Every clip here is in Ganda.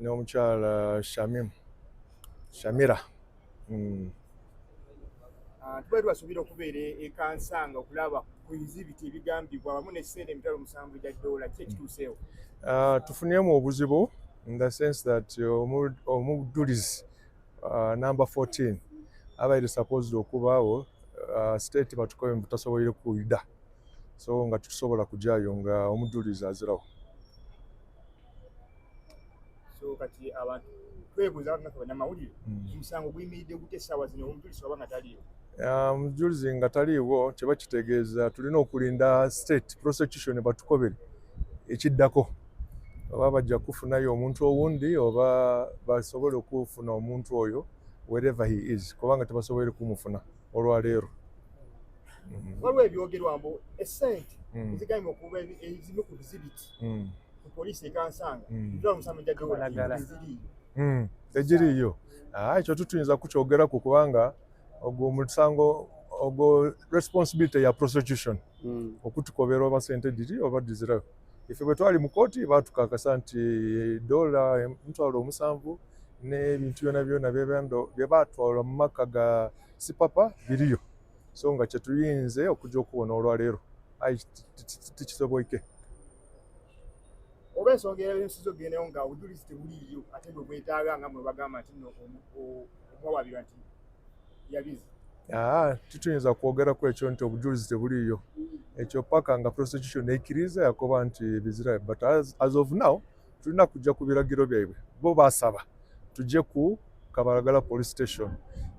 n'omukyala shamim shamira mm. ah, tubali basuubira okubeera ekansanga okulaba ku bizibiti ebigambibwa wamu nekiseera emitwalo musanvu gya doola ki ekituuseewo ah, tufuniremu obuzibu in the sense that omujulizi ah, number 14 abaire supposed okubaawo state batukobe mubutasoboire kuida so nga tutusobola kujayo nga omujulizi azirawo so kati abantu twebuuza nga banamawulire hmm. omusango guyimiridde gute essaawa zino omujulizi waba nga taliiwo omujulizi nga taliiwo kiba kitegeeza tulina okulinda state prosecution batukobere ekiddako oba bajja kufunayo omuntu owundi oba basobole okufuna omuntu oyo wherever he is kubanga tebasobole kumufuna olwaleero hmm. waliwo ebyogerwa mbu esente hmm. ezigaima okuba ezimu ku bizibiti mm. poliisi ekansanga mm. tula omusango jajjaeziriyo mm. egiriyo ah, ekyo tutuyinza kukyogera ku kubanga ogwo omusango ogwo responsibility ya prosecution mm. okutukobera oba sente diri oba dizirayo ife bwe twali mu kooti batukakasa nti dola emitwalo omusanvu n'ebintu byona byona byebaatwala mu maka ga sipapa biriyo so nga kyetuyinze okujja okubona olwaleero ayi tikisoboike oba ensonga eyalinsiza ogendayo nga obujulizi tebuliiyo ate bwe bwetaaga nga mwe bagamba nti no omuwawabirwa nti yabizi ah, tituyinza kwogera ku ekyo nti obujulizi tebuliiyo ekyo paka nga prosecution ekiriza yakoba nti bizira but as, as of now tulina kujja ku biragiro byaibwe bo basaba tujje ku kabalagala police station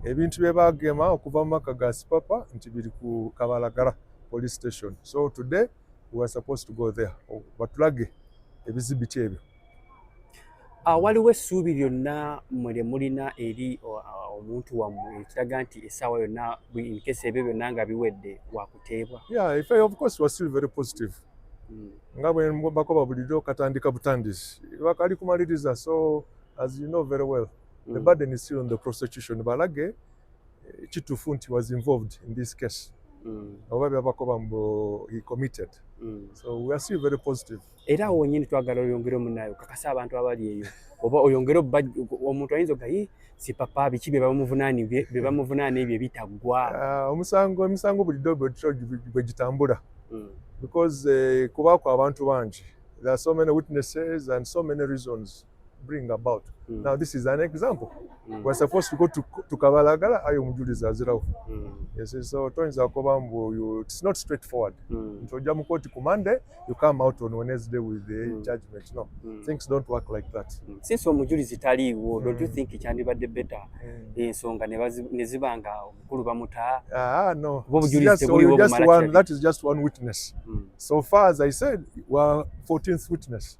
ebintu bye bagema okuva mu maka ga sipapa nti biri ku kabalagala police station so today we were supposed to go there batulage ebizibiti ebyo ah, waliwo essuubi lyonna mwe lye mulina eri omuntu wammwe ekiraga nti essaawa yonna incase ebyo byonna nga biwedde teebwa yeah if I, of course was still very positive mm. nga bwe mbako babulidde katandika butandisi bakali kumaliriza so as you know very well mm. the burden is still on the prosecution balage eh, kitufu nti was involved in this case mm. oba byabako bambo he committed mm. so we are still very positive era awo wenyini twagala oyongere omunayo kakasa abantu abali eyo oba oyongere omuntu ayinza oga yi si papa biki bebamuvunani bebamuvunana ebyo ebitaggwa ah, omusango emisango buli dobe bwe gitambula hmm. because eh, kubaako abantu bangi there are so many witnesses and so many reasons bring about mm. now this is an example mm. we're supposed to go to, to kabalagala ayo omujulizi azirawo mm. yes, so toyinza kuba mbu it's not straight forward mm. nti ojja mu kooti ku monday you come out on wednesday with the mm. judgment no mm. things don't work like that mm. since omujulizi taliiwo mm. don't you mm. think kyandibadde better mm. ensonga ne ziba nga omukulu bamutaa ah, no. that is just one witness mm. so far as i said wa 14th witness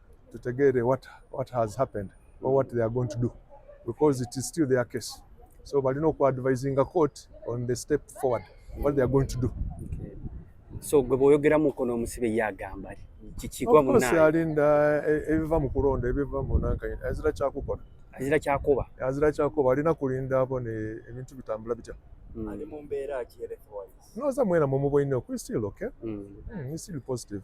tutegeere what, what has happened or what they are going to do because it is still their case so balina oku advising a court on the step forward what they are going to do okay. so gwe bwoyogeramu nkono omusibe ye agamba kikigwa munayalinda eh, ebiva mu kulonda ebiva munankanye azira kyakukola azira kyakuba azira kyakuba alina kulinda abo ne ebintu bitambula bitya mm. ali mu mbeera ki health wise noza mwena mumuboineo kuli still okay mm. Mm, still positive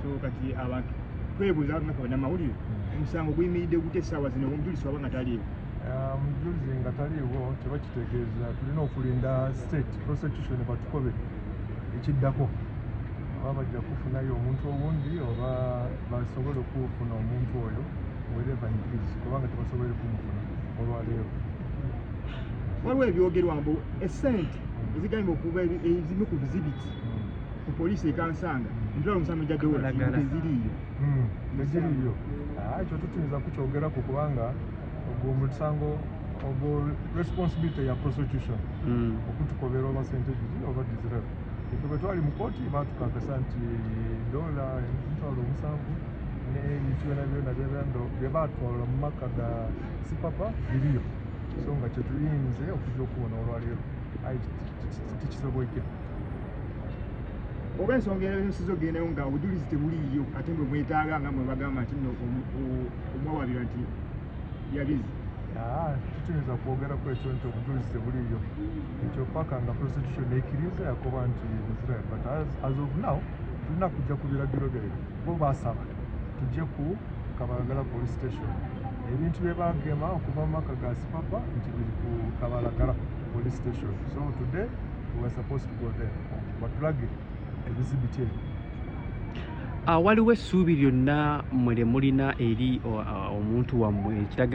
so kati abantu kwebuuza nga kabana mawulire hmm. omusango guyimiridde gute essaawa zino omujulizi waba nga taliiwo ah, omujulizi nga taliiwo kiba kitegeeza tulina okulinda state prosecution batukobe ekiddako oba bajja kufunayo omuntu owundi oba basobola okufuna omuntu oyo wereva is kubanga tebasobole kumufuna olwaleero waliwo ebyogerwa mbu esente ezigambibwa okuba ezimu ku bizibiti ku poliisi ekansanga ntula omusango gya dola eziriiyo hmm, eziriiyo ah, ekyo tutinza kukyogerako kubanga ogwo musango ogwo responsibility ya prosecution hmm. okutukobera oba sente giri oba dizirab efe bwe twali mu kooti batukakasa nti dola emitwalo omusanvu n'ebintu byona byona byebendo bye baatwala mu maka ga sipapa biriyo so nga kyetuyinze okujja okubona olwaleero ayi tikisoboike oba ensonga eyoyosiza ogendayo nga obujulizi tebuliiyo ate mwe mwetaaga nga mwe bagamba nti no omwawabira nti yabizi ah, kituyinza kwogera ku ekyo nti obujulizi tebuliiyo ekyo paka nga prostitution ekiriza yakoba nti israel but as of now tulina kujja ku biragiro byayo bo basaba tujje ku kabalagala police station ebintu bye bagema okuva mu maka ga sipapa nti biri ku kabalagala police station so today Ah, waliwo essuubi lyonna mwe lye mulina eri ah, ah, omuntu wammwe ekiraga